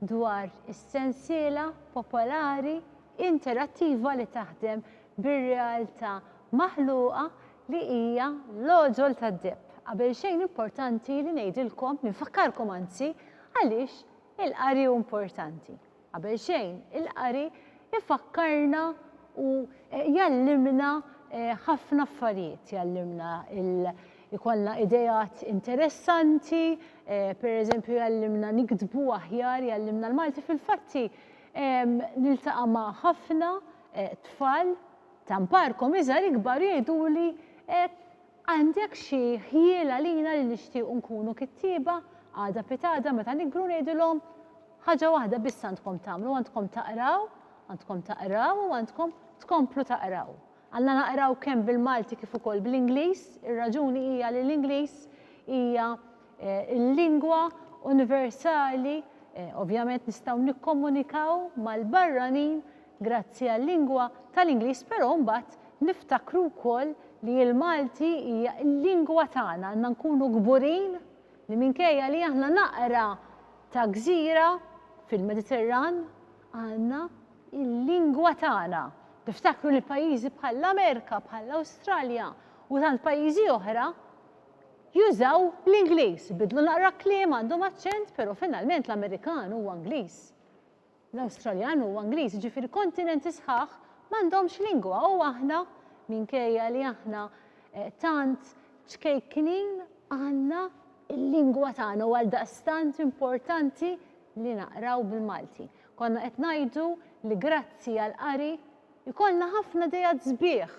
dwar is-sensiela popolari interattiva li taħdem bir-realtà maħluqa li hija l-għoġol tad-deheb. Qabel xejn importanti li ngħidilkom, infakkarkom anzi, għaliex il-qari hu importanti. Qabel xejn, il-qari ifakkarna u jgħallimna eh, ħafna affarijiet, jgħallimna il- Ikollna ideat interessanti, per eżempju jgħallimna niktbu aħjar, jgħallimna l-Malti, fil-fatti niltaqa' ma' ħafna tfal ta' mparkom iżgħar ikbar u jgħiduli għandek xi ħjiel għalina li nixtiequ nkunu kittieba għada pitgħada meta nikbru ngħidilhom ħaġa waħda biss għandkom tagħmlu għandkom taqraw, għandkom taqraw u għandkom tkomplu taqraw. Għandna naqraw kemm bil-Malti kif ukoll bl-Ingliż. Ir-raġuni hija li l-Ingliż hija l-lingwa universali, ovvjament nistgħu nikkomunikaw mal-barranin grazzi għal-lingwa tal-Ingliż però mbagħad niftakru wkoll li l-Malti hija l-lingwa tagħna, għandna nkunu kburin li minkejja li aħna naqra ta' gżira fil-Mediterran, Għandna l-lingwa tagħna. Niftakru li pajjiżi bħall-Amerika, bħall-Awstralja u tant pajjiżi oħra jużaw l-Ingliż, bidlu naqra kliem għandhom aċċent, però finalment l-Amerikan huwa Ingliż. L-Awstraljan huwa Ingliż, ġifieri kontinenti sħaħ m'għandhomx lingwa u aħna minkejja li aħna eh, tant ċkejknin għandna l-lingwa tagħna u għal daqstant importanti li naqraw bil-Malti. Konna qed ngħidu li grazzi għall-qari jkollna ħafna ideat sbieħ.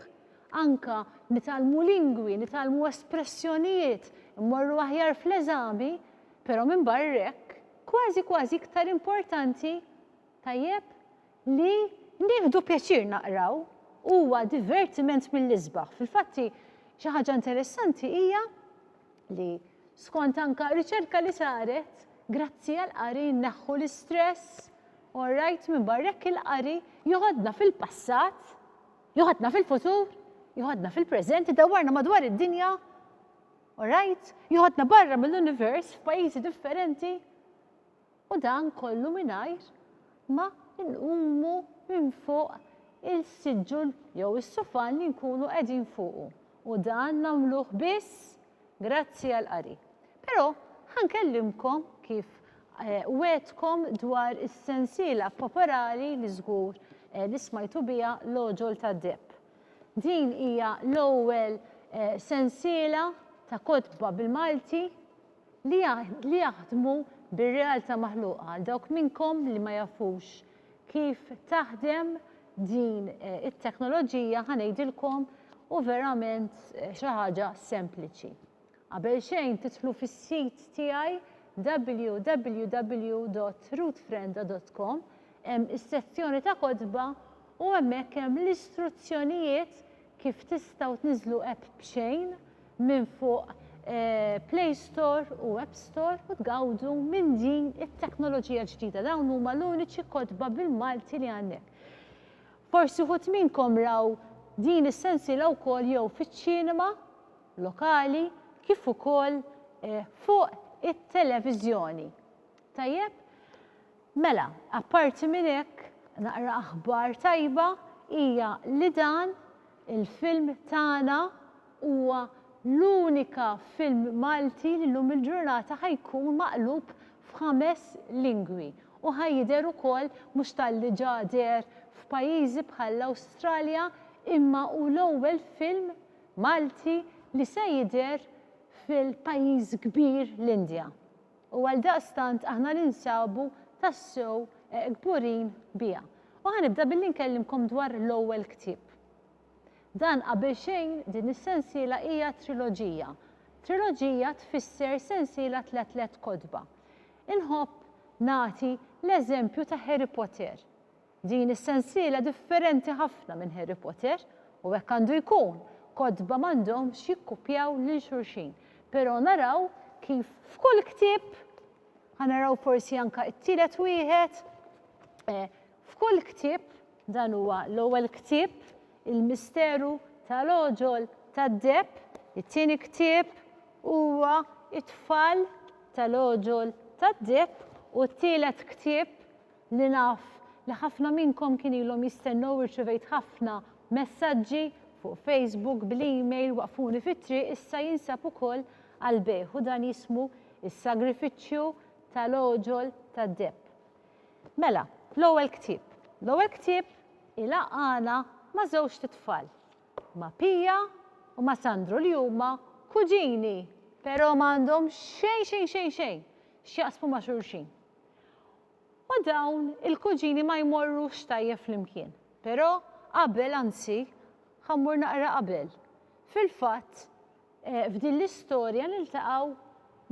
Anke nitgħallmu lingwi, nitgħallmu espressjonijiet, immorru aħjar fl-eżami, però minbarra hekk, kważi kważi iktar importanti, tajjeb, li nieħdu pjaċir naqraw huwa divertiment mill-isbaħ. Fil-fatt xi ħaġa interessanti hija li skont anka riċerka li saret, grazzi għall-qari nneħħu l-istress, all right, minn barrek il-qari joħodna fil-passat, joħodna fil-futur, joħodna fil-preżent, idawwarna madwar id-dinja, all right, joħodna barra mill-univers f'pajjiżi differenti. U dan kollu mingħajr ma nqumu minn fuq il-siġġun jew is-sufan li nkunu qegħdin fuqu. U dan nagħmluh biss grazzi għall-qari. Però ħa nkellimkom, kif wegħdtkom, dwar is-sensiela popolari li żgur li smajtu biha L-Għoġol tad-Deheb. Din hija l-ewwel sensiela ta' kotba bil-Malti li jaħdmu bir-realtà maħluqa għal dawk minnkom li ma jafux kif taħdem din it-teknoloġija ħa ngħidilkom u verament xi ħaġa sempliċi. Qabel xejn tidħlu fis-sit tiegħi www.rootfrenda.com hemm is-sezzjoni ta' kotba u hemmhekk hemm l-istruzzjonijiet Kif tistgħu tniżżlu app b'xejn minn fuq Play Store u App Store u tgawdu minn din it-teknoloġija ġdida. Dawn huma l-uniċi kotba bil-Malti li għandek. Forsi wħud minnkom raw din is-sensiela wkoll jew fiċ-ċinema lokali kif ukoll fuq it-televiżjoni. Tajjeb? Mela, apparti minn hekk, naqra aħbar tajba hija li dan il-film tagħna huwa l-unika film Malti li llum il-ġurnata ħa jkun maqlub f'ħames lingwi u ħa jidher ukoll mhux talli ġa deher f'pajjiżi bħall-Awstralja imma hu l-ewwel film Malti li se jidher fil-pajjiż kbir l-Indja. U għaldaqstant aħna ninsabu tassew kburin biha. U ħa nibda billi nkellimkom dwar l-ewwel ktieb. Dan qabel xejn din is-sensiela hija triloġija. Triloġija tfisser sensiela tla' tliet kotba. Inħobb nagħti l-eżempju ta' Harry Potter. Din is-sensiela differenti ħafna minn Harry Potter, u hekk għandu jkun, kotba m'għandhomx jikkupjaw lil xulxin, però naraw kif f'kull ktieb, ħa naraw forsi anke t-tielet wieħed, f'kull ktieb, dan huwa l-ewwel ktieb, Il-Misteru tal-Għoġol tad-Deheb, it-tieni ktieb huwa It-Tfal tal-Għoġol tad-Deheb u t-tielet ktieb li naf li ħafna minnkom kien ilhom jistennew irċivejt ħafna messaġġi fuq Facebook bl-email waqfuni fit-triq issa jinsab ukoll għall-bejgħ u dan jismu s-sagrifiċċju tal-għoġol tad-deheb. Mela, l-ewwel ktieb. L-ewwel ktieb ilaqqagħna ma' żewġt itfal, ma' Pia u ma' Sandro li huma kuġini, però ma għandhom xejn xejn xejn xejn x'jaqsmu ma' xulxin. U dawn il-kuġini ma jmorrux tajjeb flimkien. Però qabel, anzi, ħa mmur naqra qabel. Fil-fatt, f'din l-istorja niltaqgħu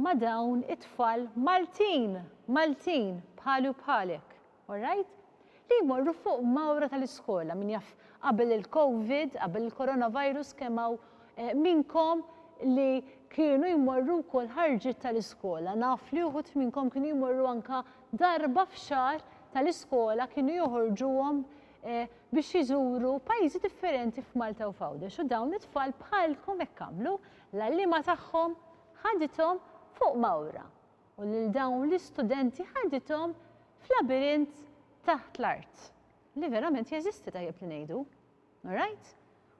ma' dawn it-tfal Maltin, Maltin, bħali u bħalek, all right? li jmorru fuq mawra tal-iskola, min jaf qabel il-Covid, qabel il-Coronavirus kemm hawn minnkom li kienu jmorru wkoll ħarġiet tal-iskola. Naf li uħud minnkom kienu jmorru anka darba f'xahar tal-iskola kienu joħorġuhom eh, biex jiżuru pajjiżi differenti f'Malta u f'Għawdex u dawn it-tfal bħalkom hekk għamlu l-għalliema tagħhom ħadithom fuq mawra u lil dawn l-istudenti ħadithom f'labirint taħt l-art li verament jeżisti tajjeb li ngħidu. All right?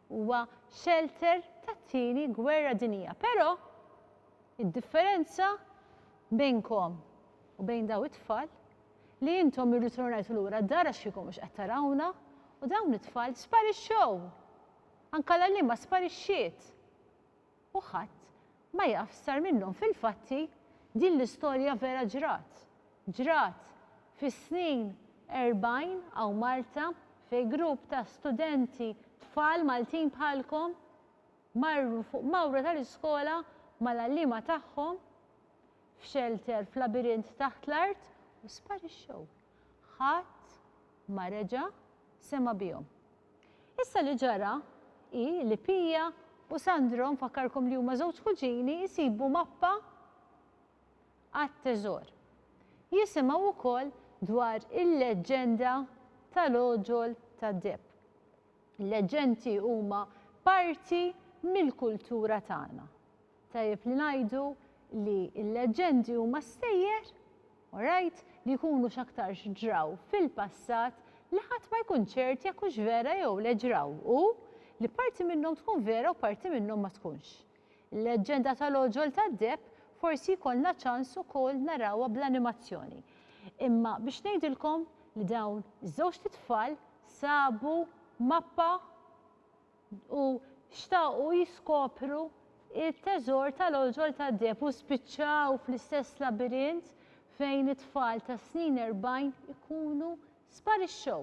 Huwa shelter tat-Tieni Gwerra Dinjija. Però id-differenza bejnkom u bejn dawn it-tfal li intom irritornajtu lura d-dar għax kieku mhux qed tarawna u dawn it-tfal sparixxew. Anke l-għalliema sparixxiet. U ħadd ma jaf x'sar minnhom. Fil-fatti, din l-istorja vera ġrat. Ġrat fis-snin erbgħin hawn Malta fejn grupp ta' studenti, tfal Maltin bħalkom, marru fuq mawra tal-iskola mal-għalliema tagħhom f'xelter f'labirint taħt l-art u sparixxew. Ħadd ma reġa' sema' bihom. Issa li ġara hi li Pia u Sandro, nfakkarkom li huma żewġ kuġini, isibu mappa għat-teżor. Jisimgħu wkoll dwar il-leġġenda tal-għoġol tad-deheb. Il-leġġenti huma parti mill-kultura tagħna. Tajjeb li ngħidu li l-leġġendi huma stejjer, alright, li jkunu x'aktarx ġraw fil-passat li ħadd ma jkun ċert jekk hux vera jew le ġraw u li parti minnhom tkun vera u parti minnhom ma tkunx. Il-leġġenda tal-għoġol tad-deheb forsi jkollna ċans ukoll narawha bl-animazzjoni. Imma biex ngħidilkom li dawn iż-żewġt itfal sabu mappa u xtaqu jiskopru t-teżor tal-għoġol tad-deheb u spiċċaw fl-istess labirint fejn it-tfal tas-snin erbgħin ikunu sparixxew.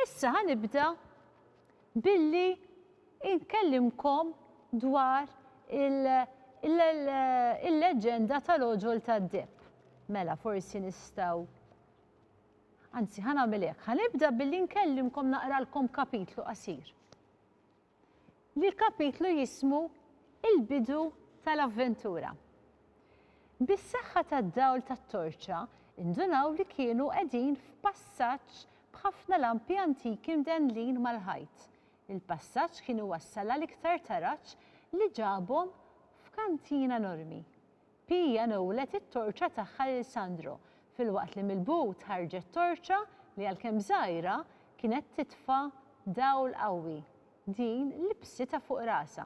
Issa ħa nibda billi nkellimkom dwar il-leġġenda tal-għoġol tad-deheb. Mela forsi nistgħu Anzi, ħa nagħmel hekk, ħa nibda billi nkellimkom naqralkom kapitlu qasir. Li l-kapitlu jismu Il-bidu tal-avventura. Bis-saħħa tad-dawl tat-torċa, indunaw li kienu qegħdin f'passaġġ b'ħafna lampi antiki mdennlin mal-ħajt. Il-passaġġ kien iwassal għal iktar taraġ li ġabhom f'kantina enormi. Pia newwlet it-torċa tagħha lil Sandro, filwaqt li mill-but ħarġet torċa li għalkemm żgħira, kienet titfa' dawl qawwi. Din libsitha fuq rasha.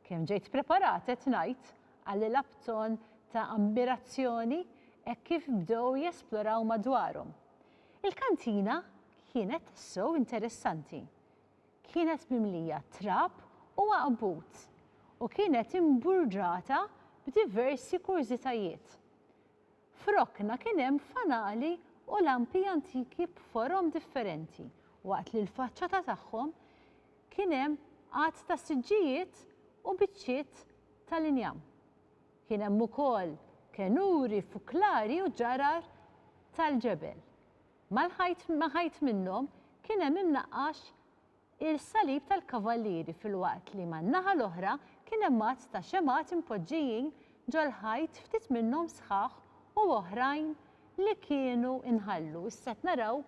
Kemm ġejt ppreparat qed ngħid, qalilha b'ton ta' ammirazzjoni hekk kif bdew jesploraw madwarhom. Il-kantina kienet tassew interessanti. kienet mimlija trab u għaqbut u kienet imburdata b'diversi kurżitajiet. F'rokna kien hemm fanali u lampi antiki b'forom differenti waqt li l-faċċata tagħhom kien hemm għadd ta' siġġijiet u biċċiet tal-injam. Kien hemm ukoll kenuri, fuklari u ġarar tal-ġebel. Mal-ħajt ma' ħajt minnhom kien hemm imnaqqax il-salib tal-kavallieri filwaqt li man-naħa l-oħra kien hemm għadd ta' xemgħat impoġġijin ġol-ħajt ftit minnhom sħaħ u oħrajn li kienu nħallu. Issa qed naraw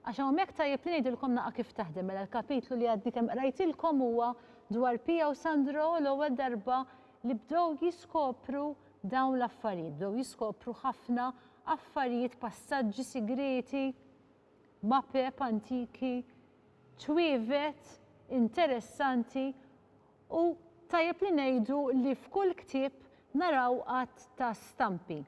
għax hawnhekk tajjeb li ngħidilkom naqgħa kif taħdem mela l-kapitlu li għadni kemm qrajtilkom huwa dwar Pia u Sandro l-ewwel darba li bdew jiskopru Dawn l-affarijiet bdew jiskopru ħafna affarijiet passaġġi sigrieti, mapep antiki, ċwievet interessanti u tajjeb li ngħidu li f'kull ktieb naraw għadd ta' stampi.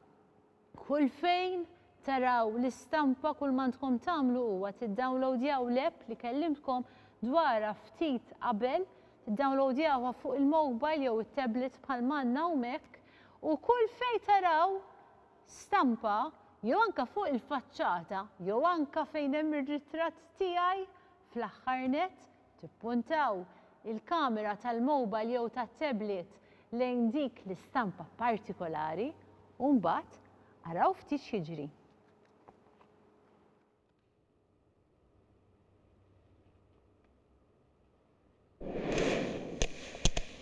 Kull fejn taraw l-istampa kull m'għandkom tagħmlu huwa tiddownloadjaw l-app li kellimtkom dwarha ftit qabel, tiddownloadjawha fuq il-mobile jew it-tablet bħal m'għandna hawn hekk u kull fejn taraw stampa jew anke fuq il-faċċata jew anke fejn hemm ir-ritratt tiegħi fl-aħħar nett Tippuntaw il-kamera tal-mowbajl jew tat-tablet lejn dik l-istampa partikolari u mbagħad araw ftit x'jiġri.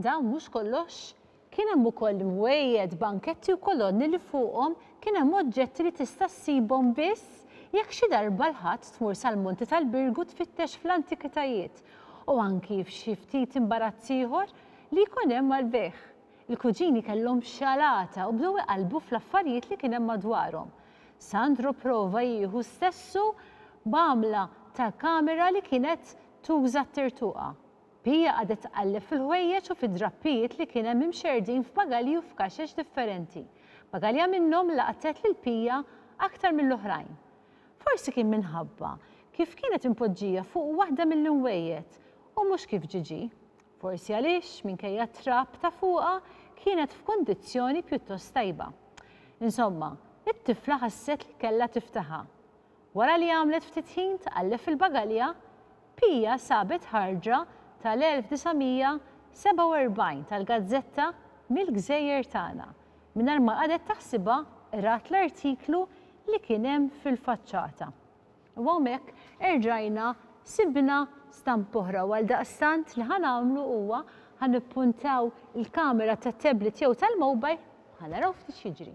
Dan mhux kollox. Kien hemm ukoll imwejjed, banketti u kolonni li fuqhom kien hemm oġġetti li tista' ssibhom biss jekk xi darba l-Ħadd tmur sal-Monti tal-Birgu tfittex fl-antikitajiet u anki f'xi ftit imbarazz ieħor li jkun hemm għall-bejgħ. Il-kuġini kellhom xalata u bdew iqallbu fl-affarijiet li kien hemm madwarhom. Sandro pprova jieħu stessu b'għamla ta' kamera li kienet Tuża t-tirtuqa. Pia qagħdet tqalleb fil-ħwejjeġ u fid-drappijiet li kien hemm imxerrdin f'bagalji u f'kaxex differenti. Bagalja minnhom laqtet lil Pia aktar mill-oħrajn. Forsi kien minħabba kif kienet impoġġija fuq waħda mill-inwejjed u mhux kif Gigi. Forsi għaliex, minkejja t-trab ta' fuqha, kienet f'kundizzjoni pjuttost tajba. Insomma, it-tifla ħasset li kellha tiftaħha. Wara li għamlet ftit ħin tqalleb fil-bagalja, Pia sabet ħarġa tal-1947 tal-gazzetta Mill-Gżejjer Tagħna. Mingħajr ma qagħdet taħsibha, qrat l-artiklu li kien hemm fil-faċċata. U hawnhekk erġajna sibna stampa oħra u għaldaqstant li ħa nagħmlu huwa ħa nippuntaw il-kamera tat-tablet jew tal-mobile u ħa naraw ftit x'jiġri.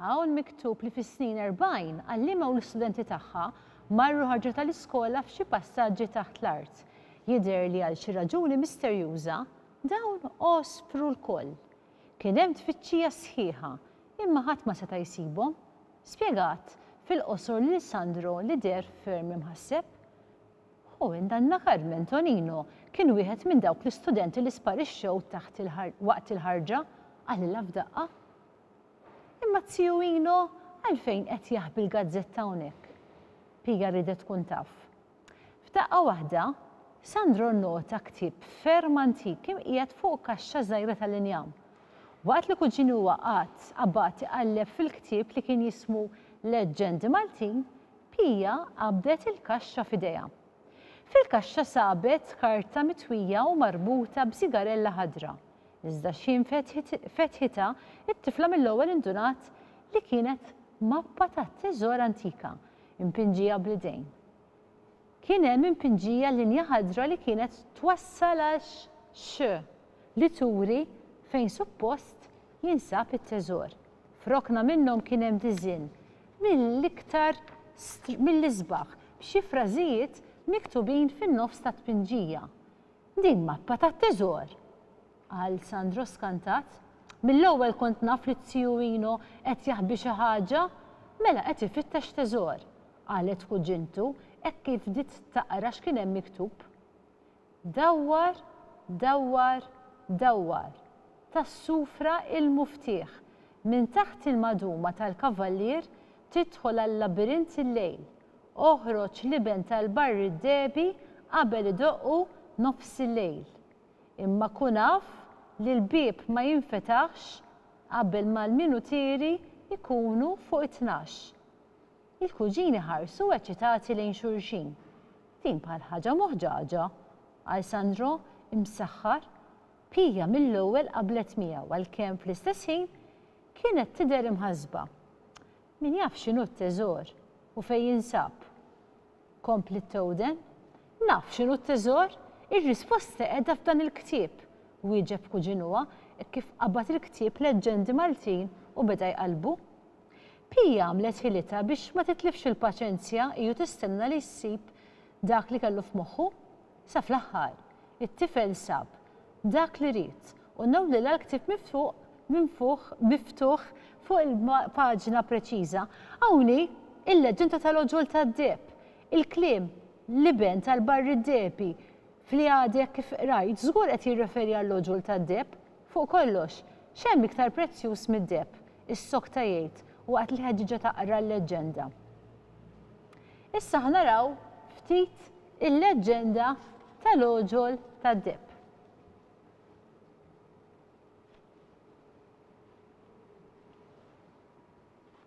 Hawn miktub li fis-snin erbgħin għalliema u l-istudenti tagħha marru ħarġu tal-iskola f'xi passaġġi taħt l-art. Jidher li għal xi raġuni misterjuża, dawn għospru lkoll. Kien hemm tfittxija sħiħa, imma ħadd ma seta' jsibhom. Spjegat fil-qosor lil Sandro li deher ferm imħasseb. Hu minn dan l-aħħar minn Tonino kien wieħed minn dawk l-istudenti li sparixxew waqt il-ħarġa, qalilha f'daqqa. Imma t-Tiju Ino għalfejn qed jaħbi l-gazzetta hawnhekk? Pia riedet tkun taf. F'daqqa waħda, Sandro nnota ktieb ferm antik imqiegħed fuq kaxxa żgħira tal-injam. Waqt li kuġini huwa qagħad qabad iqalleb fil-ktieb li kien jismu Leġġendi Maltin, Pia qabdet il-kaxxa f'idejha. Fil-kaxxa sabet karta mitwija u marbuta b'sigarella ħadra, iżda x'ħin fetħitha, it-tifla mill-ewwel indunat li kienet mappa tat-teżor antika, impinġija bl-idejn. Kien hemm impinġija linja ħadra li kienet twassal għal xxx li turi fejn suppost jinsab it-teżor. F'rokna minnhom kien hemm diżinn mill-iktar mill-isbaħ b'xi frażijiet miktubin fin-nofs tat-tpinġija. Din mappa tat-teżor! qal Sandro skantat. Mill-ewwel kont naf li t-Ziju Ino qed jaħbi xi ħaġa, mela qed ifittex teżor. qalet kuġintu hekk kif bdiet taqra x'kien hemm miktub. Dawwar, dawwar, dawwar, tas-sufra il-muftieħ, minn taħt il-maduma tal-kavallier tidħol għal-labirint il-lejl, oħroġ l-iben tal-barr id-dehbi qabel idoqqu nofs il-lejl. Imma kun af li l-bieb ma jinfetaħx qabel ma l-minutieri jkunu fuq it-tnax. Il-kuġini ħarsu eċċitati lejn xulxin. Din bħal ħaġa muħġaġa! qal Sandro, imsaħħar. Pia mill-ewwel qablet miegħu għalkemm fl-istess ħin kienet tidher imħassba. Min jaf x'inhu t-teżor u fejn jinsab? kompliet tgħoden. Naf x'inhu t-teżor! Ir-risposta qiegħda f'dan il-ktieb! wieġeb kuġinuha hekk kif qabad il-ktieb Leġġendi Maltin u beda jqallbu. Pia għamlet ħilitha biex ma titlifx il-paċenzja hi u tistenna li jsib dak li kellu f'moħħu. Sa fl-aħħar, it-tifel sab dak li ried u nawlilha l-ktieb miftuq minn fuq miftuħ fuq il-paġna preċiża. Hawn hi l-leġġenda tal-għoġol tad-deheb, il-kliem l-iben tal-barri d-dehebi f'li għadek kif qrajt żgur qed jirreferi għall-għoġol tad-deheb. Fuq kollox, x'hemm iktar prezzjuż mid-deheb? issokta jgħid waqt li ħeġġiġha taqra l-leġġenda. Issa ħa naraw ftit il-leġġenda tal-għoġol tad-deheb.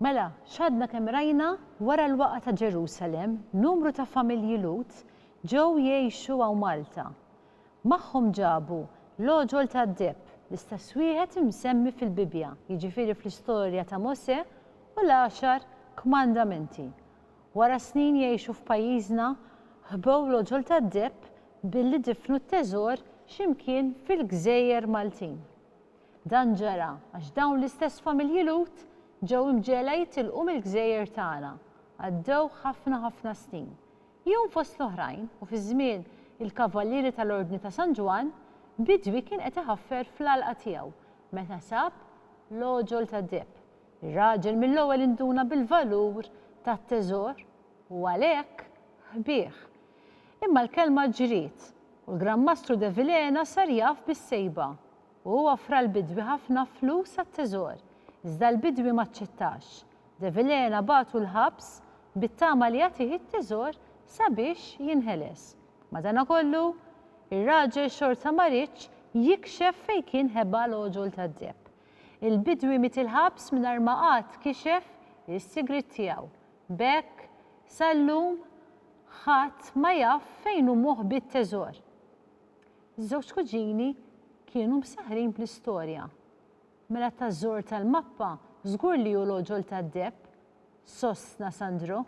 Mela, x'għadna kemm rajna, wara l-waqgħa ta' Ġerusalemm, numru ta' familji Lhud ġew jgħixu hawn Malta. Magħhom ġabu l-għoġol tad-deheb, l-istess wieħed imsemmi fil-Bibbja, jiġifieri fl-istorja ta' Mosè, u l-Għaxar Kmandamenti. Wara snin jgħixu f'pajjiżna, ħbew l-għoġol tad-deheb billi difnu t-teżor xi mkien fil-gżejjer Maltin. Dan ġara għax dawn l-istess familji Lhud ġew imġegħla jitilqu mill-gżejjer tagħna. Għaddew ħafna ħafna snin. Jum fost l-oħrajn, u fi żmien il-Kavallieri tal-Ordni ta' San Ġwann, bidwi kien qed iħaffer fl-għalqa tiegħu meta sab l-għoġol tad-deheb. Ir-raġel mill-ewwel induna bil-valur tat-teżor u għalhekk ħbieh. Imma l-kelma ġriet u l-Gran Mastru Devilena sar jaf bis-sejba. U hu offra l-bidwi ħafna flus għat-teżor, iżda l-bidwi ma aċċettax. De Vilhena bagħtu l-ħabs bit-tama li jagħtih it-teżor sabiex jinħeles. Madanakollu, ir-raġel xorta ma riedx jikxef fejn kien ħeba l-għoġol tad-deheb. Il-bidwi miet il-ħabs mingħajr ma qatt kixef is-sigriet tiegħu. B'hekk, sal-lum, ħadd ma jaf fejn hu moħbi t-teżor. Ż-żewġ kuġini kienu msaħħrin bl-istorja. Mela t-tażżur tal-mappa żgur li hu l-għoġol tad-deheb, sostna Sandro.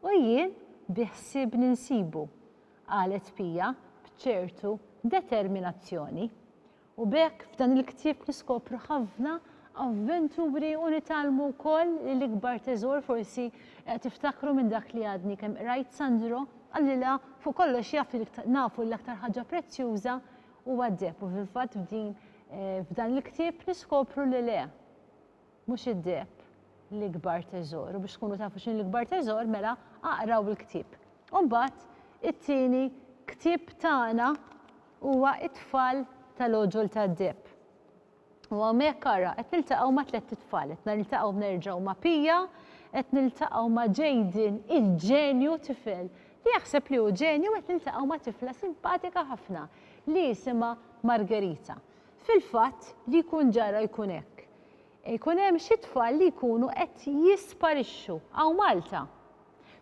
U jien biħsiebni nsibu, qalet Pia b'ċertu determinazzjoni. U b'hekk f'dan il-ktieb niskopru ħafna avventuri u nitgħallmu wkoll li l-ikbar teżor forsi qed tiftakru minn dak li għadni kemm qrajt Sandro qalilha fuq kollox jaf li nafu li l-aktar ħaġa prezzjuża huwa d-deheb u fil-fatt f'din f'dan il-ktieb niskopru li le mhux id-deheb l-ikbar teżor u biex tkunu tafu x'inhu l-ikbar teżor mela aqraw il-ktieb. U mbagħad it-tieni ktieb tagħna huwa It-Tfal tal-Għoġol tad-Deheb. U hawnhekk ara, qed niltaqgħu ma' tlett itfal, qed niltaqgħu nerġgħu ma' Pia, qed niltaqgħu ma' Jayden, il-ġenju, tifel li jaħseb li hu ġenju u qed niltaqgħu ma' tifla simpatika ħafna li jisimha Margherita. Fil-fatt, li jkun ġara jkun hekk. Ikun hemm xi tfal li jkunu qed jisparixxu hawn Malta.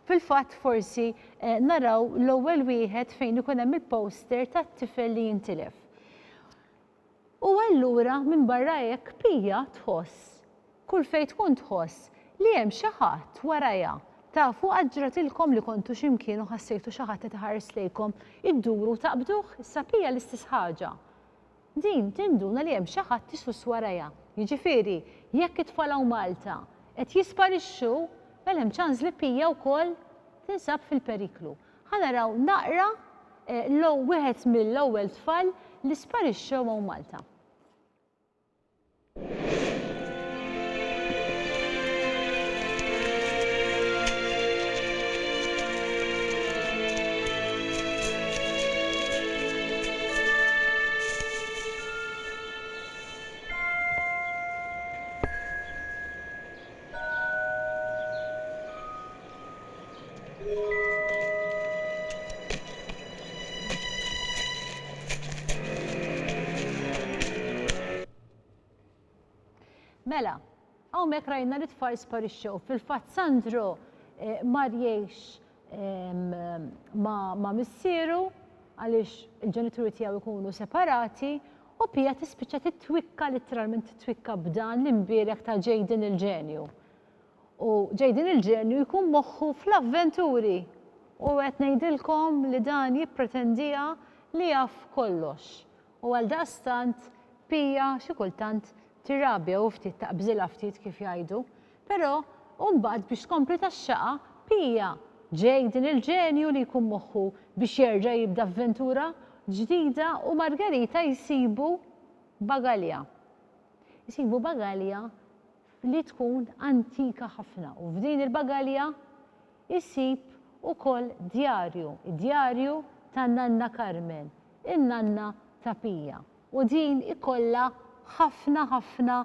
Fil-fatt forsi eh, naraw l-ewwel wieħed fejn ikun hemm il-poster tat-tifel li jintilef. U allura minbarra hekk Pia tħoss, kull fejn tkun tħoss, li hemm xi ħadd warajha. Tafu qatt ġratilkom li kontu xi mkien u ħassejtu xi ħadd qed iħares lejkom, idduru u taqbduh? Issa Pia l-istess ħaġa. Din tinduna li hemm xi ħadd isuss warajha. Jiġifieri, jekk it-tfal hawn Malta qed jisparixxu, mela hemm ċans li Pia wkoll tinsab fil-periklu. Ħa naraw naqra l-ow wieħed mill-ewwel tfal li sparixxew hawn Malta. Mela, hawnhekk rajna li t-tfal sparixxew. Fil-fatt Sandro eh, mar jgħix ma' missieru għaliex il-ġenituri tiegħu jkunu separati u Pia tispiċċa titwikka litteralment titwikka b'dan l-imbierek ta' Jaden il-ġenju. U Jaden il-ġenju jkun moħħu fl-avventuri u qed ngħidilkom li dan jippretendija li jaf kollox. U għal daqstant Pia xi kultant tirrabja u ftit taqbżilha ftit kif jgħidu. Però, u mbagħad biex tkompli taxxaqha, Pia, ġej din il-ġenju li jkun moħħu biex jerġa' jibda avventura ġdida u Margherita jsibu bagalja. Jsibu bagalja li tkun antika ħafna u f'din il-bagalja jsib ukoll djarju, id-djarju ta' Nanna Carmen, in-nanna ta' Pia. U din ikollha ħafna ħafna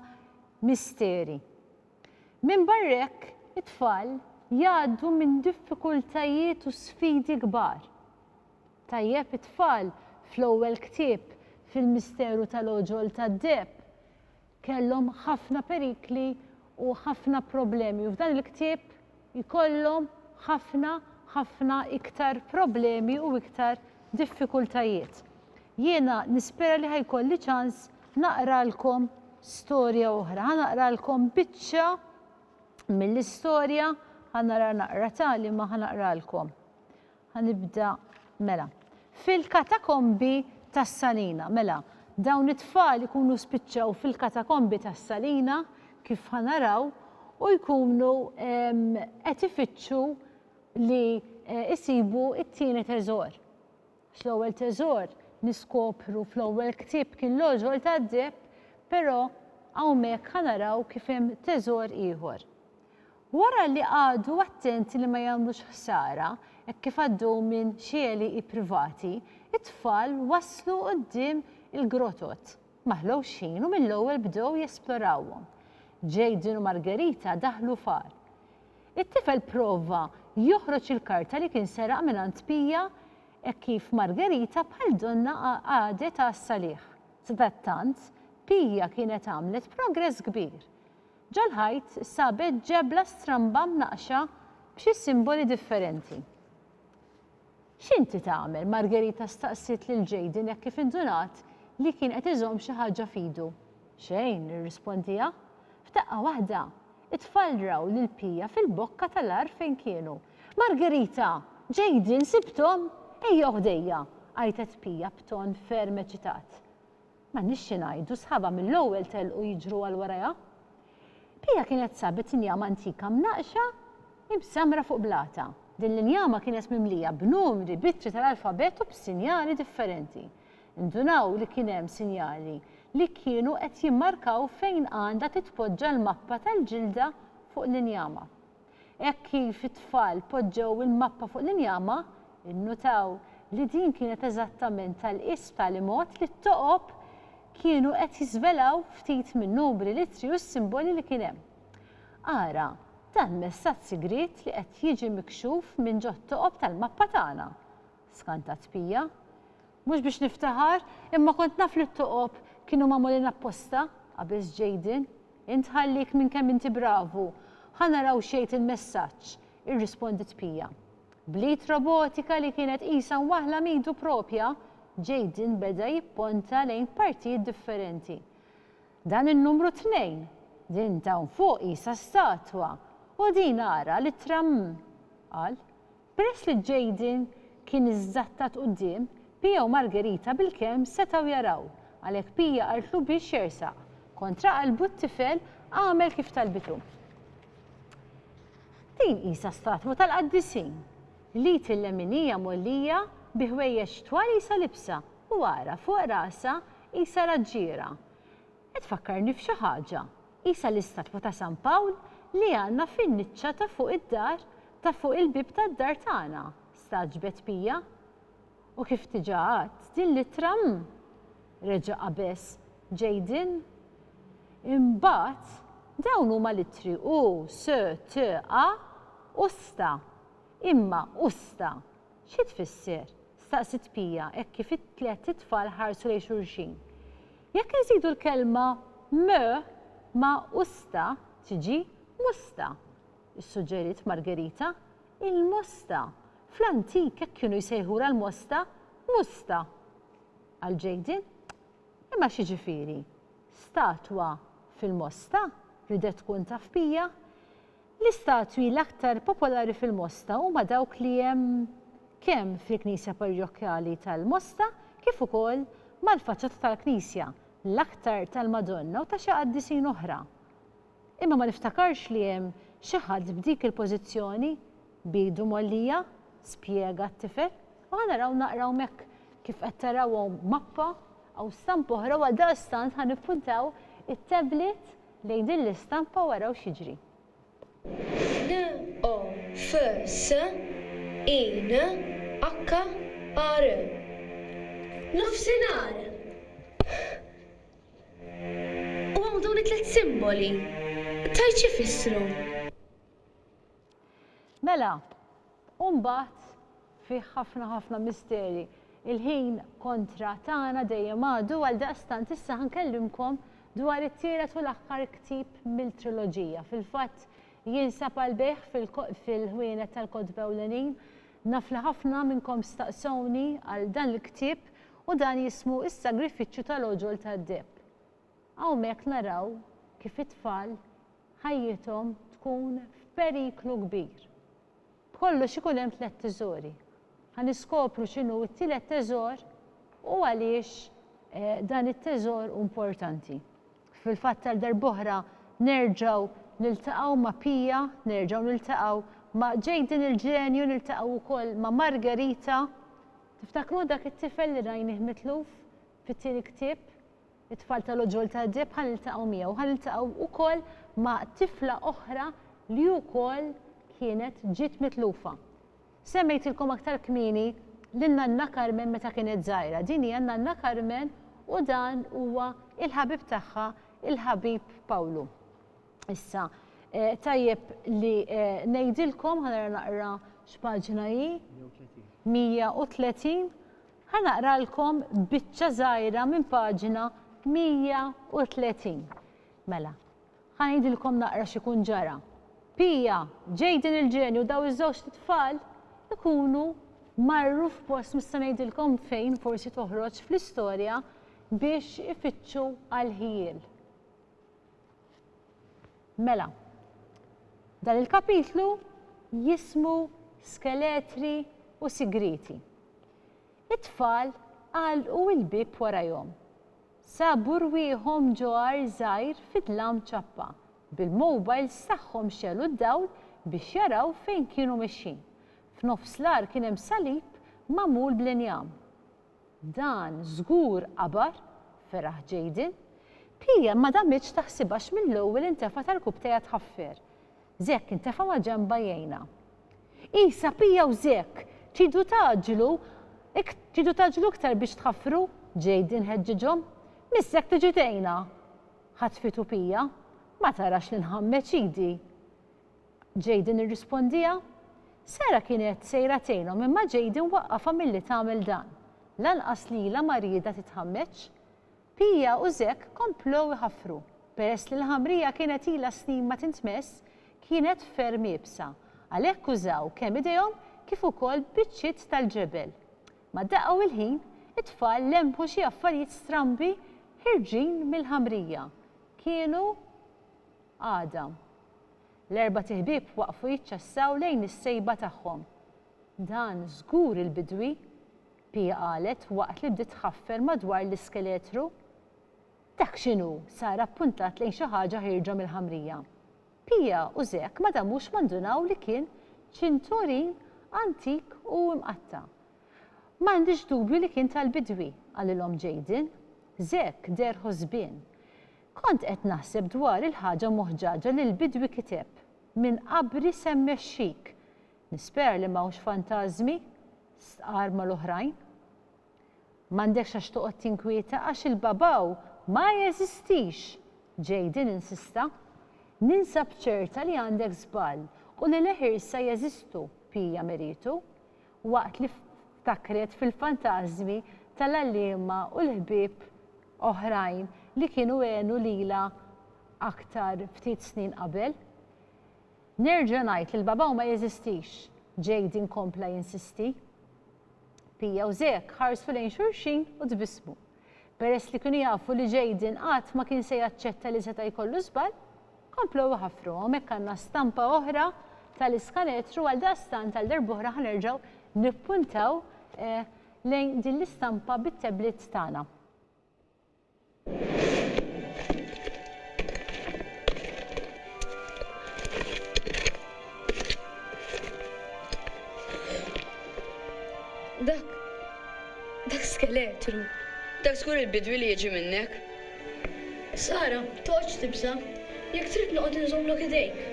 misteri. Minbarra hekk, it-tfal jgħaddu minn diffikultajiet u sfidi kbar. Tajjeb it-tfal fl-ewwel ktieb fil-Misteru tal-Għoġol tad-Deheb kellhom ħafna perikli u ħafna problemi u f'dan il-ktieb jkollhom ħafna ħafna iktar problemi u iktar diffikultajiet. Jiena nispera li ħajkolli ċans naqralkom storja oħra, ħa naqralkom biċċa mill-istorja, ħa nara naqra tali ma ħa naqralkom. Ħa nibda mela. Fil-katakombi tas-Salina. Mela, dawn it-tfal ikunu spiċċaw fil-katakombi tas-Salina, kif ħa naraw, u jkunu qed ifittxu li jsibu t-tieni teżor. Għax l-ewwel teżor niskopru fl-ewwel ktieb kien l-għoġol tad-deheb, però hawnhekk ħa naraw kif hemm teżor ieħor. Wara li qagħdu attenti li ma jagħmlux ħsara, hekk kif għaddew minn xi għelieqi privati, it-tfal waslu quddiem il-grotot. Ma ħlewx ħin u mill-ewwel bdew jesplorawhom. Jayden u Margherita daħlu f'għar. It-tifel prova joħroġ il-karta li kien seraq mingħand Pia hekk kif Margherita bħal donnha qagħdet għas-salih. Sadattant, Pia kienet għamlet progress kbir. Ġol-ħajt sabet ġebla stramba mnaqqxa b'xi simboli differenti. X'inti tagħmel, Margherita staqsiet lil Jayden hekk kif indunat li kien qed iżomm xi ħaġa f'idu. Xejn, irrispondiha. F'daqqa waħda, it-tfal raw lil Pia fil-bokka tal-għar fejn kienu. Margherita! Jayden, sibthom? Ejja ħdejja! għajtet Pia b'ton ferm eċitat. M'għandniex xi ngħidu, sħabha mill-ewwel telqu jiġru għal warajha. Pia kienet sabet injama antika mnaqqxa imsammra fuq blata. Din l-injama kienet mimlija b'numri, b'ittri tal-alfabett u b'sinjali differenti. Indunaw li kien hemm sinjali li kienu qed jimmarkaw fejn għandha titpoġġa l-mappa tal-ġilda fuq l-injama. Hekk kif it-tfal poġġew il-mappa fuq l-injama, innutaw li din kienet eżattament tal-qies b'tali mod li t-toqob kienu qed jiżvelaw ftit min-numri, l-ittri u s-simboli li kien hemm. Ara dan messaġġ sigriet li qed jiġi mikxuf minn ġot-toqob tal-mappa tagħna. Skantat Pia. Mhux biex niftaħar, imma kont naf li t-toqob kienu magħmulin apposta, qabeż Jayden. Int ħallik minn kemm inti bravu. Ħa naraw x'jgħid il-messaġġ, irrispondiet Pia. Bl-id robotika li kienet qisha waħla m'idu proprja, Jayden beda jipponta lejn partijiet differenti. Dan in-numru tnejn, din t'hawn fuq qisha statwa, u din ara l-ittra 'mm, qal. Peress li Jayden kien iżżattat quddiem, Pia u Margherita bilkemm setgħu jaraw, għalhekk Pia qaltlu biex jersaq. Kontra qalbu t-tifel għamel kif talbitu. Din qisha statwa tal-qaddisin. L-id il-leminija mgħollija bi ħwejjeġ twal qisha libsa u ara fuq rasha qisha raġġiera. Qed tfakkarni f'xi ħaġa. Qisha l-istatwa ta' San Pawl li għandna fin-niċċa ta' fuq id-dar ta' fuq il-bieb tad-dar tagħna, stagħġbet Pia. U kif diġà għadt, din l-ittra mm! reġa' qabeż Jayden. Imbagħad, dawn huma l-ittri u, sö, tö, a, usta. Imma, usta, xi tfisser? staqsiet Pia hekk kif it-tliet itfal ħarsu lejn xulxin. Jekk inżidu l-kelma mö ma' usta tiġi musta, issuġġeriet Margherita. Il-mosta! Fl-antik hekk kienu jsejħulha l-mosta, musta! qal Jayden. Imma x'jiġifieri, statwa fil-mosta? ridet tkun taf bija. L-istatwi l-aktar popolari fil-Mosta huma dawk li hemm kemm fil-knisja parrjokjali tal-Mosta kif ukoll mal-faċċata tal-knisja, l-aktar tal-Madonna u ta' xi qaddisin oħra. Imma ma niftakarx li hemm xi ħadd b'dik il-pożizzjoni b'idu mgħollija, spjega t-tifel. U ħa naraw naqra hawnhekk kif qed taraw hawn mappa, hawn stampa oħra u għaldaqstant ħa nippuntaw it-tablet Lejn din l-istampa u araw x'jiġri. NOFS in HR Nofsinhar! U hawn dawn it-tliet simboli, tgħid x'ifissru? Mela, u mbagħad fih ħafna ħafna misteri. Il-ħin kontra tagħna dejjem għadu għaldaqstant issa ħa nkellimkom dwar it-tielet u l-aħħar ktieb mill-triloġija. Fil-fatt jinsab għall-bejgħ fil-ħwienet tal-kotba ewlenin. Naf li ħafna minnkom staqsewni għal dan il-ktieb u dan jismu Is-Sagrifiċċju tal-Għoġol tad-Deheb. Hawnhekk naraw kif it-tfal ħajjithom tkun f'periklu kbir. B'kollox ikun hemm tliet tiżori. Ħa niskopru x'inhu t-tielet teżor u għaliex dan it-teżor hu importanti. Fil-fatt għal darb'oħra nerġgħu niltaqgħu ma' Pia, nerġgħu niltaqgħu ma' Jayden il-ġenju, niltaqgħu wkoll ma' Margherita. Tiftakru dak it-tifel li rajnih mitluf fit-tieni ktieb? It-tfal tal-uġigħol tad-deheb ħa niltaqgħu miegħu, ħa niltaqgħu wkoll ma' tifla oħra li wkoll kienet ġiet mitlufa. Semmejtilkom aktar kmieni lil Nanna Carmen meta kienet żgħira. Din hija Nanna Carmen u dan huwa il-ħabib tagħha, il-ħabib Pawlu. Issa, tajjeb li ngħidilkom, ħa nara naqra x'paġna hi, 130, Ħa naqralkom biċċa żgħira minn paġna 130. Mela, ħa ngħidilkom naqra x'ikun ġara. Pia, Jayden il-ġenju u dawn iż-żewġt itfal ikunu marru f'post mhux se ngħidilkom fejn forsi toħroġ fl-istorja biex ifittxu għall-ħjiel. Mela, dan il-kapitlu jismu Skeletri u Sigrieti. It-tfal għalqu l-bieb warajhom. Sabu rwieħhom ġo għar żgħir fi dlam ċappa, bil-mowbajls tagħhom xegħlu d-dawl biex jaraw fejn kienu mexjin. F'nofs l-għar kien hemm salib magħmul bl-injam. Dan żgur għabar feraħ Jayden. Pia ma damitx taħsibha għax mill-ewwel intefa' tal-kub tejha tħaffer. Zekk intefa' maġenbha jgħinha. Isa, Pia u Zekk! Tridu tgħaġġlu tridu tgħaġġlu iktar biex tħaffru? Jayden ħeġġiġhom. Miss Zekk tiġi tgħinha! Ħatfitu Pia. Ma tarax li nħammeġ idi! Jayden irrispondiha. Sarah kienet sejra tgħinhom imma Jayden waqqafha milli tagħmel dan. Lanqas lilha ma riedha titħammeġ. Pia u Zach komplew iħaffru. Peress li l-ħamrija kienet ilha snin ma tintmess, kienet ferm iebsa. Għalhekk użaw kemm idejhom kif ukoll biċċiet tal-ġebel. Ma daqqa u l-ħin, it-tfal lemħu xi affarijiet strambi ħirġin mill-ħamrija. Kienu għadam. L-erbat iħbieb waqfu jiċċassaw lejn is-sejba tagħhom. Dan żgur il-bidwi! Pia qalet waqt li bdiet tħaffer madwar l-iskeletru. Dak x'inhu? Sara ppuntat lejn xi ħaġa ħierġa mill-ħamrija. Pia u Zek ma damux ma ndunaw li kien ċinturin antik u mqatta'. M'għandix dubju li kien tal-bidwi, qalilhom Jayden. Zek deher ħosbien. Kont qed naħseb dwar il-ħaġa moħġaġa li l-bidwi kiteb, Minn qabri se mmexxik. Nispera li m'hawnx fantażmi? stqarr mal-oħrajn. M'għandekx għax toqgħod tinkwieta għax il-Babao ma jeżistix! Jayden insista. Ninsab ċerta li għandek żball u li leħirsa jeżistu, Pia miritu. waqt li ftakret fil-fantażmi tal-għalliema u l-ħbieb oħrajn li kienu għenu lilha aktar ftit snin qabel. Nerġa' ngħid li l-babaw ma jeżistix, Jayden kompla jinsisti. Pia u Zek ħarsu lejn xulxin u tbissmu. Peress li kienu jafu li Jayden qatt ma kien se jaċċetta li seta' jkollu żball, komplew iħaffru. Hawnhekk għandna stampa oħra tal-iskanetru, għaldaqstant għal darb'oħra ħa nerġgħu nippuntaw lejn din l-istampa bit-tabliet tagħna. Dak. dak skeletru. Dak żgur il-bidwi li jiġi minnek. Sara, toqgħodx tibża'. Jekk trid noqgħod inżommlok idejk.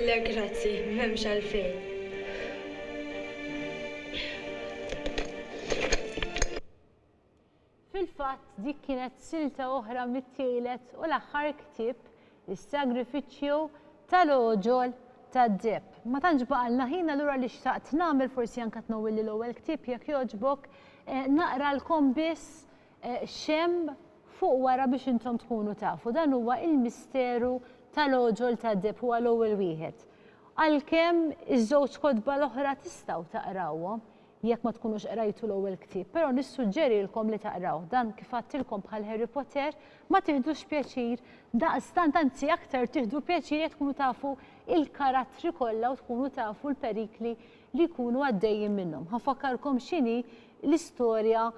Le grazzi, m'hemmx għalfejn. Fil-fatt, dik kienet silta oħra mit-tielet u l-aħħar ktieb, Is-Sagrifiċċju tal-Għoġol tad-Deheb. Ma tantx baqgħalna ħin allura li xtaqt nagħmel forsi anke tnawwilli l-ewwel ktieb jekk jogħġbok, naqralkom biss x'hemm fuq wara biex intom tkunu tafu. Dan huwa Il-Misteru tal-Għoġol tad-Deheb, huwa l-ewwel wieħed. Għalkemm iż-żewġ kotba l-oħra tistgħu taqrawhom, Jekk ma tkunux qrajtu l-ewwel ktieb, però nissuġġerilkom li taqrawh. Dan kif għadtilkom bħal Harry Potter, ma tiħdux pjaċir daqstant anzi aktar tieħdu pjaċir jekk tkunu tafu il-karattri kollha u tkunu tafu l-perikli li jkunu għaddejjin minnhom. Ħa nfakkarkom x'inhi l-istorja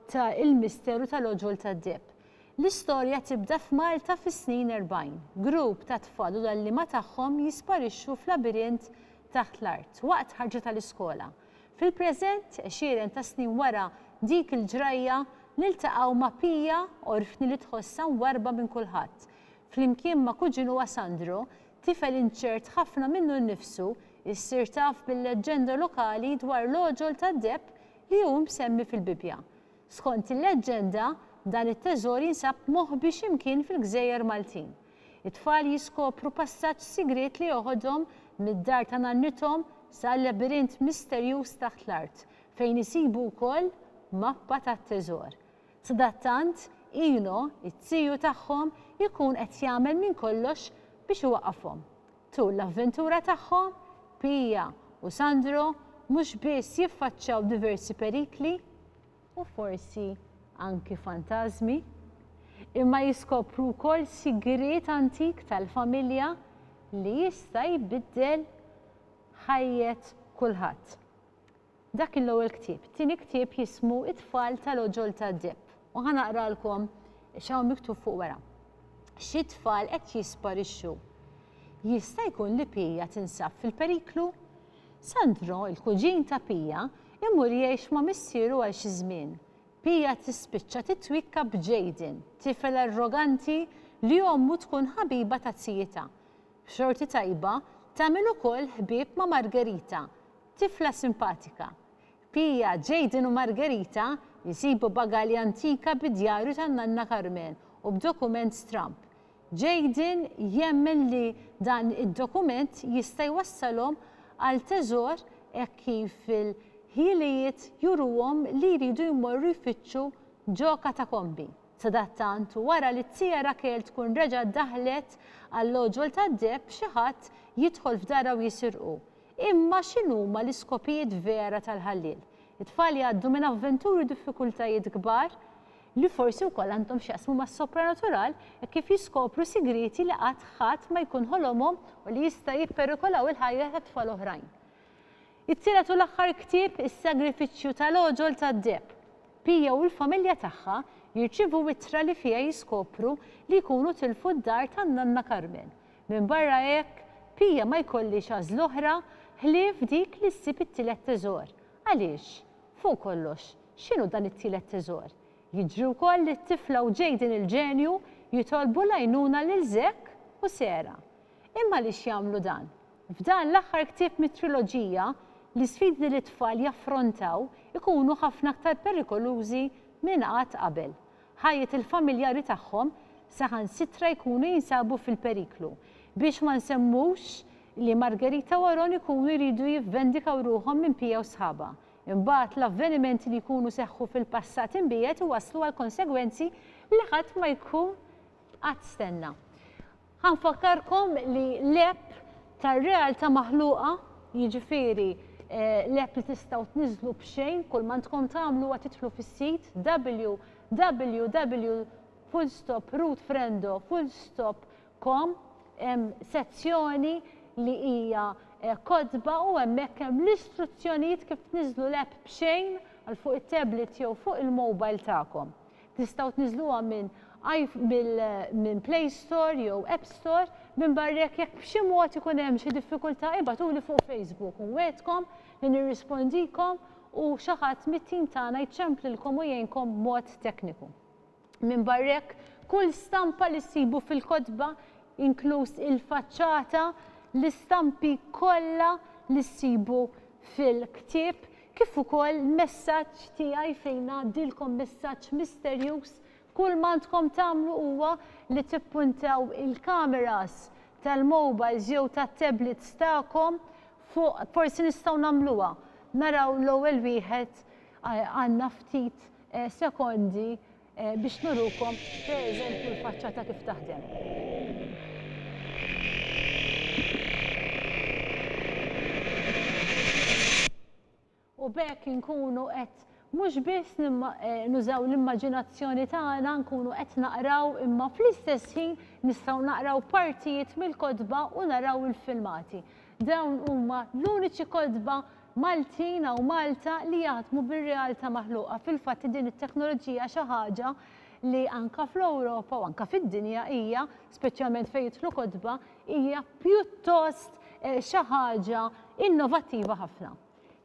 ta' Il-Misteru tal-Għoġol tad-Deheb. L-istorja tibda f'Malta fis-snin erbgħin. Grupp ta' tfal u l-għalliema tagħhom jisparixxu f'labirint taħt l-art waqt ħarġa tal-iskola. Fil-preżent, għexieren ta' snin wara dik il-ġrajja, niltaqgħu ma' Pia, orfni li tħossha mwarrba minn kulħadd. Flimkien ma' kuġinuha Sandro, tifel inċert ħafna minnu nnifsu, issir taf bil-leġġenda lokali dwar l-għoġol tad-deheb li hu msemmi fil-Bibbja. Skont il-leġġenda, dan it-teżor jinsab moħbi xi mkien fil-gżejjer Maltin. It-tfal jiskopru passaġġ sigriet li joħodhom mid-dar ta' nannithom sa labirint misterjuż taħt l-art, fejn isibu wkoll mappa tat-teżor. Sadattant, Eno, it-tiju tagħhom, ikun qed jagħmel minn kollox biex iwaqqafhom. Tul l-avventura tagħhom, Pia u Sandro mhux biss jiffaċċaw diversi perikli, u forsi anki fantażmi, imma jiskopru wkoll sigriet antik tal-familja li jista' jbiddel ħajjet kulħadd. Dak kien l-ewwel ktieb. It-tieni ktieb jismu It-tfal tal-għoġol tad-deheb u ħa naqralkom x'hawn miktub fuq wara. Xi tfal qed jisparixxu. Jista' jkun li Pia tinsab fil-periklu? Sandro, il-kuġin ta' Pia, imur jgħix ma' missieru għal xi żmien. Pia tispiċċa titwikka b'Jayden, tifel arroganti li ommu tkun ħabiba ta' zijietha. B'xorti tajba, tagħmel ukoll ħbieb ma' Margherita, tifla simpatika. Pia, Jayden u Margherita jsibu bagalja antika bid-djarju tan-nanna Carmen u b'dokument stramb. Jayden jemmen li dan id-dokument jista' jwassalhom għal teżor hekk kif il-ħiliet juruhom li jridu jmorru jfittxu ġo katakombi. Sadattant, wara li t-tia Raquel tkun reġgħet daħlet għall-għoġol tad-deheb xi ħadd jidħol f'darha u jisirqu. Imma x'inhuma l-iskopijiet vera tal-ħalliel? It-tfal jgħaddu minn avventuri u diffikultajiet kbar. li forsi wkoll għandhom x'jaqsmu mas-sopranatural hekk kif jiskopru sigrieti li qatt ħadd ma jkun ħolomhom u li jista' jipperikolaw il-ħajja ta' tfal oħrajn. It-tielet u l-aħħar ktieb Is-Sagrifiċċju ta' l-Għoġol tad-Deheb. Pia u l-familja tagħha jirċievu ittra li fiha jiskopru li jkunu tilfu d-dar tan-nanna Carmen. Minbarra hekk, Pia ma jkollhiex għażla oħra ħlief dik li ssib it-tielet teżor. Għaliex? Fuq kollox, x'inhu dan it-tielet teżor? Jiġri wkoll li t-tifla u Jayden il-ġenju jitolbu l-għajnuna lil Zack u Sarah. Imma għaliex jagħmlu dan? F'dan l-aħħar ktieb mit-triloġija, l-isfidi li t-tfal jaffrontaw ikunu ħafna aktar perikolużi minn qatt qabel. ħajjet il-familjari tagħhom saħansitra jkunu jinsabu fil-periklu, biex ma nsemmux li Margherita u Aaron ikunu jridu jivvendikaw ruħhom minn Pia u sħabha. Imbagħad l-avvenimenti li jkunu seħħu fil-passat imbiegħed iwasslu għal konsegwenzi li ħadd ma jkun qatt stenna. Ħa nfakkarkom li l-app tar-realtà maħluqa, jiġifieri l-app li tistgħu tniżżlu b'xejn, kull ma għandkom tagħmlu huwa tidħlu fis-sit www.rootfrendo.com, hemm sezzjoni li hija kotba u hemmhekk hemm l-istruzzjonijiet kif tniżżlu l-app b'xejn għal fuq it-tablet jew fuq il-mobile tagħkom. Tistgħu tniżżluha minn minn Play Store jew App Store. Minbarra hekk jekk b'xi mod ikun hemm xi diffikultà ibgħatuli fuq Facebook u nwegħedkom li nirrispondikom u xi ħadd mit-tim tagħna jċemplilkom u jgħinkom b'mod tekniku. Minbarra hekk, kull stampa li ssibu fil-kotba, inkluż il-faċċata, l-istampi kollha li ssibu fil-ktieb kif ukoll messaġġ tiegħi fejn ngħaddilkom messaġġ misterjuż, kull m'għandkom tagħmlu huwa li tippuntaw il-kameras tal-mobiles jew tat-tablets tagħkom fuq forsi nistgħu nagħmluha, naraw l-ewwel wieħed għandna ftit sekondi Biex nurukom, per eżempju, l-faċċata kif taħdem. U b'hekk inkunu qed mhux biss nużaw l-immaġinazzjoni tagħna, nkunu qed naqraw imma fl-istess ħin nistgħu naqraw partijiet mill-kotba u naraw il-filmati. Dawn huma l-uniċi kotba Maltin hawn Malta li jaħdmu bir-realta' maħluqa. Fil-fatt din it-teknoloġija xi ħaġa li anka fl-Ewropa u anka fid-dinja hija, speċjalment fejn jidħlu kotba, hija pjuttost xi ħaġa innovattiva ħafna.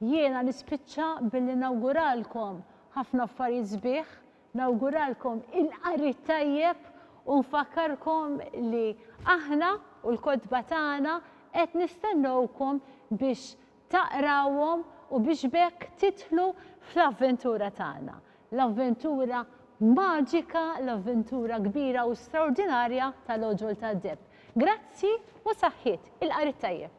Jiena nispiċċa billi nawguralkom ħafna affarijiet sbieħ Nawguralkom il-qari t-tajjeb u nfakkarkom li aħna u l-kotba tagħna qed nistennewkom biex taqrawhom u biex b'hekk tidħlu fl-avventura tagħna, l-avventura maġika, l-avventura kbira u straordinarja tal-Għoġol tad-Deheb. Grazzi u saħħiet, il-qari t-tajjeb.